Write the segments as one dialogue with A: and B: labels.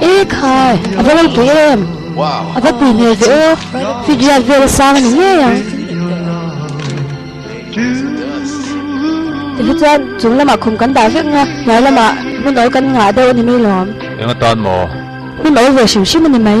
A: E khai, a va lalpui em? A va pui hmel ve u, Fidyard vel a sang a ni ngei ang. Tihi chuan chung lamah khum kan dah vek nia, hnuai lamah hmu nawl kan ngah deuh a ni mai lawm. Eng a tan maw? Hmu nawl ve hrim hrim a ni mai.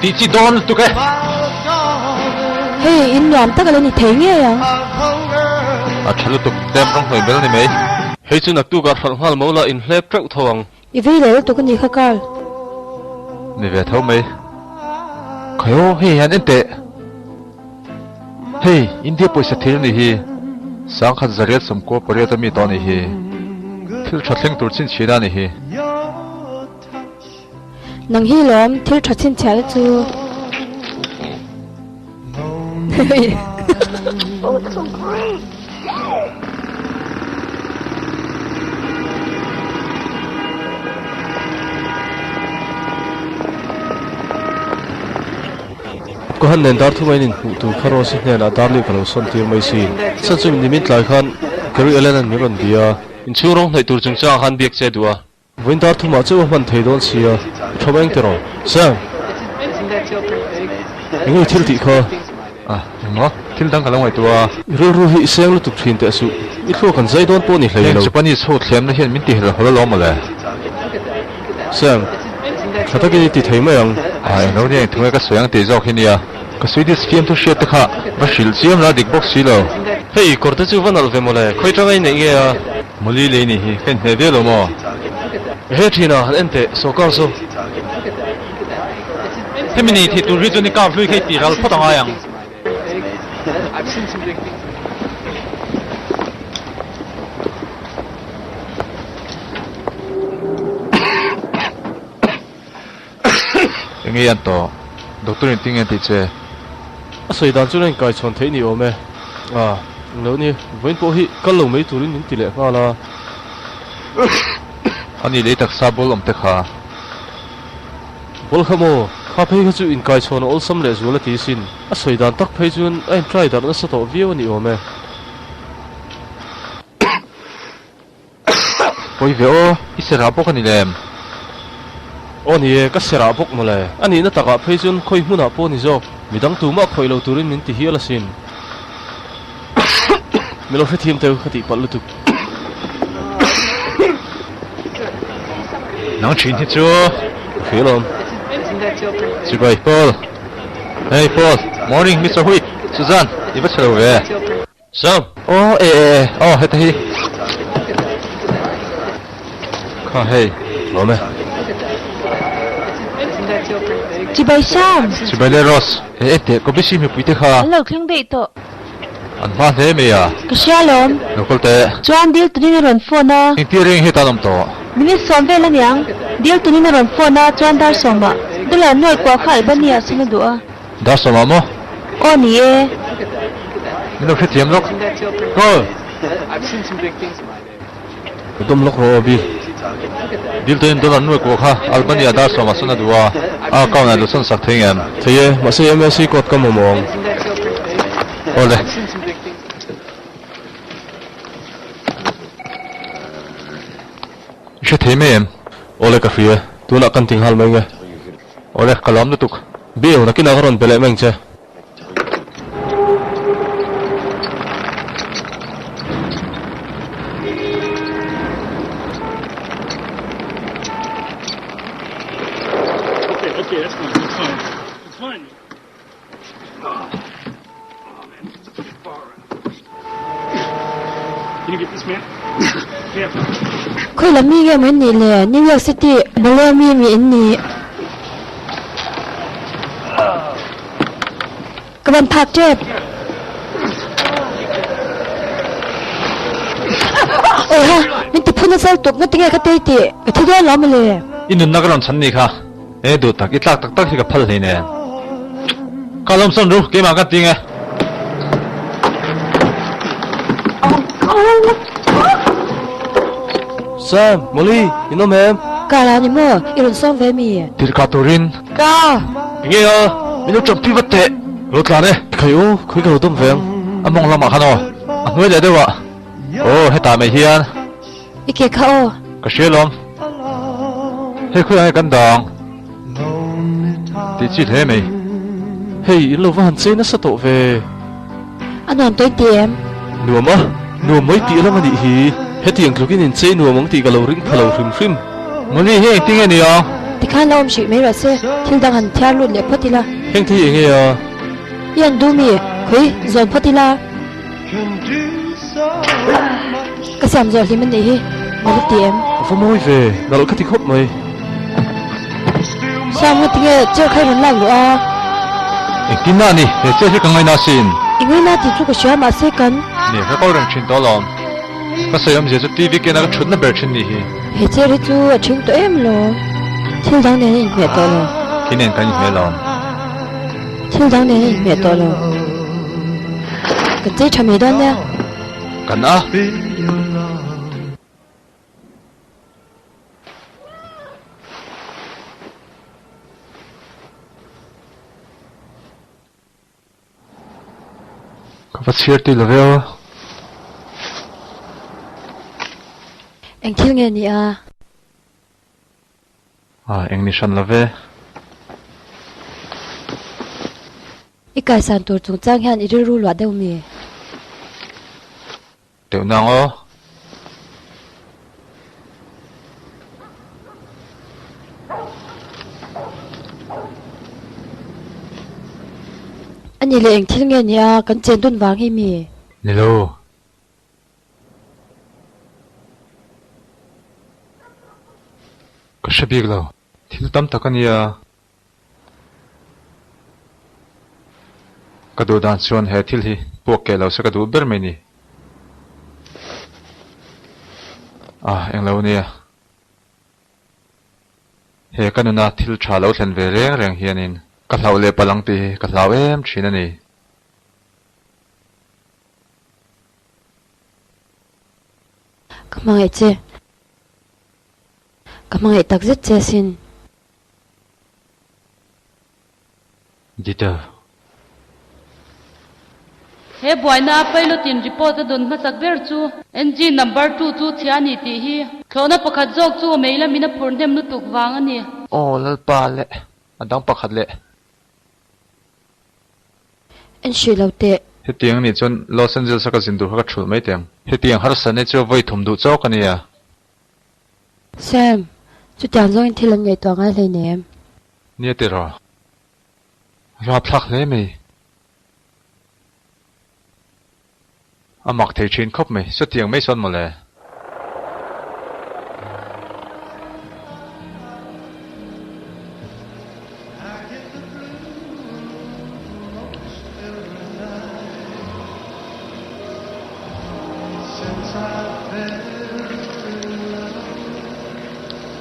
A: Tih chi dawn lutuk e. Hei, in nuam tak ala ni thei ngei ang. A tha lutuk, tlem rawng hnuai bel ni mai. Hei chu naktuk ah hralh nghal mo la, in hlep teuh tho ang. I vei leh lutuk a ni kha Carl. Ni ve tho mai. Khai aw, hei hian en teh. Hei, India pawisa thil a nih hi. Sang khat zariat sawm kua pariat a mi tawh a nih hi. Thil tha thleng tur chin chhina a nih hi. Nang hi lawm thil tha chhinchhiah te chu Oh, it's so great! Ko han nen dar thu mai nin hmuh tur kha Rose hnen a dar leh ka lo sawn tir mai si. Chhan chu min nimin tlai khan Gary Allen an min rawn bia. Inchhung rawng hnaih tur chung chang khan biak che duh a. Vuintar thuma cheu a hman thei dawn sia, i thawm eng tiraw? Sam! Eng i thil tih kha? Ah, engmaw? Thil dang ka lo ngaihtuah a. I rilru hi i seng lutuk thin teh suh, i thluak kan zai dawn pawh ni hlei lo. Heng Japanese ho thlemna hian min ti hlawlhawl alawm mawle. Sam! Tha takin i ti thei mai ang. Ah, englo nia, engthung e ka sawi ang tih zawk hi nia. Ka Swedish fiamthu hriatte kha va hrilh chiam la dik bawk silo. Hei, kawrte chu va nalh ve mawle, khawi tanga i neih nge a. Mawli lei nih hi ka in hneh viau lo maw? He thina han en teh sawrkar chu hemi nei thih tur hi chuan i kap hlui kha i tih ral phawt a ngai ang. Enge an tawh? Doctor in ti nge an tih che? A sawi dan chuan a inkaichhawn theih ni awm e. Ah, eng lo ni, vawiin pawh hi kal lo mai turin min ti leh nghal a. A nih leh taksa ball awm te kha. Ball kha maw? Kha phei kha chu inkaichhawn a awlsam leh zual a ti sin. A sawi dan tak phei chuan a en try darh nasa tawh viau a ni awm e. Pawi ve aw, i serah bawk a ni lem? Aw ni e, ka serah bawk mawle. A nihna takah phei chuan khawi hmunah pawh ni zawk, midang tu mah khawih lo turin min ti hial asin. Min lo hrethiam teu ka tih palh lutuk. Nang thin hi chu ka hre lawm. Chibai Paul, Hey Paul, Morning Mister Huit, Suzanne, i va chhe lo ve. Sir. Aw e e e aw heta hi kha hei awm e. Chibai Sam. Chibai leh Rose he enteh ko bisi mipui te kha. An lo thleng daih tawh. An hma hle mai a. Ka hria lawm. Nokol te. Chuan dil tunin a rawn phone a. Engtir reng hi tan awm tawh. Minute sawm vel aniang. Dil tunin a rawn phone a chuan dar sawmah, Dula nuaih kuah kha Albania a sin a duh a. Darsa mah maw? Aw ni e. I lo hrethiam lawk. Aw. I dawm lawk rawh aw Bill. Bill te in dollar an nuai kuah kha Albany ah darsa mah san a duh a, a account ah i lo san sak thei ngen. Thei e, mahse i MLC code ka mamawh ang. Aw le. I hrethiam em? Aw le ka hria. Tunah kan ting hal mai nge. Awle, ka lawm lutuk. Bill, na kinah ka rawn be leh meng che. Khawi lam mi nge maw in nih le? New York City, Malaya mi mi in nih. Ka van phak tep. Oi ha, min tiphun a sal tuk, na ti nge ka tei tih? Ka thi dawn lo mawle. I nunna ka rawn chhan ni kha. He duh tak i tlak tak tak hi ka phal hlei nen ka lawm sawn ru, keimah ka ting e. Sam, Molly, in awm em? Ka la a ni maw? I rawn sawm ve mi? Tirhkah turin. Ka. I ngei a, min lo ṭampi vat teh. Lo tlan e. Khai u, khawi ka lo dawm ve ang. A mawng lamah khan aw, a hnuai leh deuh ah. Aw, hetah mai hian. I ke kha aw. Ka hria lawm. Hei khawiah hei kan dang tih chi hle mai. Hei in lo va han chei nasa tawh ve. A nuam tawi ti em? Nuam a, nuam mai tih alang anih hi. Hetiang tlukin in chei nuam ang tih ka lo ring pha lo hrim hrim. Mawni hi engtin nge nia? Ti khan la awm hrih mai ruah se, thil dang han thiar lut leh phawt ila. Hengte hi enge a? I han duh mi? Khawi zawn phawt ila. Ka siam zawh hlim anih hi, na la ti em? Ka va mawi ve, na ral kha ti khawp mai. Siam nga tinge chair kha i rawn lak luh a? Engtin a ni? He chair hi ka ngaina a sin. I ngaina tih chu ka hria mahse kan. Ni, ka kal reng thin tawh lo. Ka sawi awmzia chu TV kena ka thutna ber thin ni hi. He chair hi chu a thin tawh em lo. Thil dang nen a inhmeh tawh lo. Khi nen kan inhmeh lo. Thil dang nen a inhmeh tawh lo. Kan chei tha mai dawn nia. Kan a. Ka va chhiar tih love a. Eng thil nge nia. Ah eng ni hran love. I kaisan tur chung chang hian i rilru luah deuh mi. Deuh nang aw. Ani leh eng thil nge nia kan chen dun vang hi mi. Nilo. Ka hre bik lo. Thil tam tak a nia. Ka duh dan chuan he thil hi puak keh lo se ka duh ber mai ni. Ah eng lo nia. He ka nuna thil tha lo thlen ve reng reng hianin. Ka hlauh leh palang tih hi ka hlau em thin a ni. Ka hmangaih che. Ka hmangaih tak zet che asin. Detail. He buaina pilot in report a dawn hmachak ber chu. Engine number two chu chhia a ni tih hi. Thlawhna pakhat zawk chu mei lam in a phurhnem lutuk vang a ni. Aw, Lalpa leh a dang pakhat leh En hrih lo teh. Hetiang nih chuan Los Angeles a ka zin tur kha ka ṭhulh mai teh ang. Hetiang harsa nge chu a vawi thum duh chauh ka nia. Sam, chutiang zawngin thil an ngaihtuah ngai hlein em? Nia teh rawh. A hlapthlak hle mai. A mak thei thin khawp mai. Chutiang mai sawn mawle.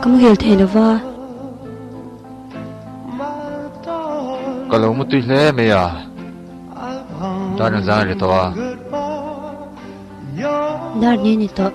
A: Ka mu hel thei lova. Ka lo mu tui hle mai a. Dar nen zan a ni tawh a. Dar nen a ni tawh.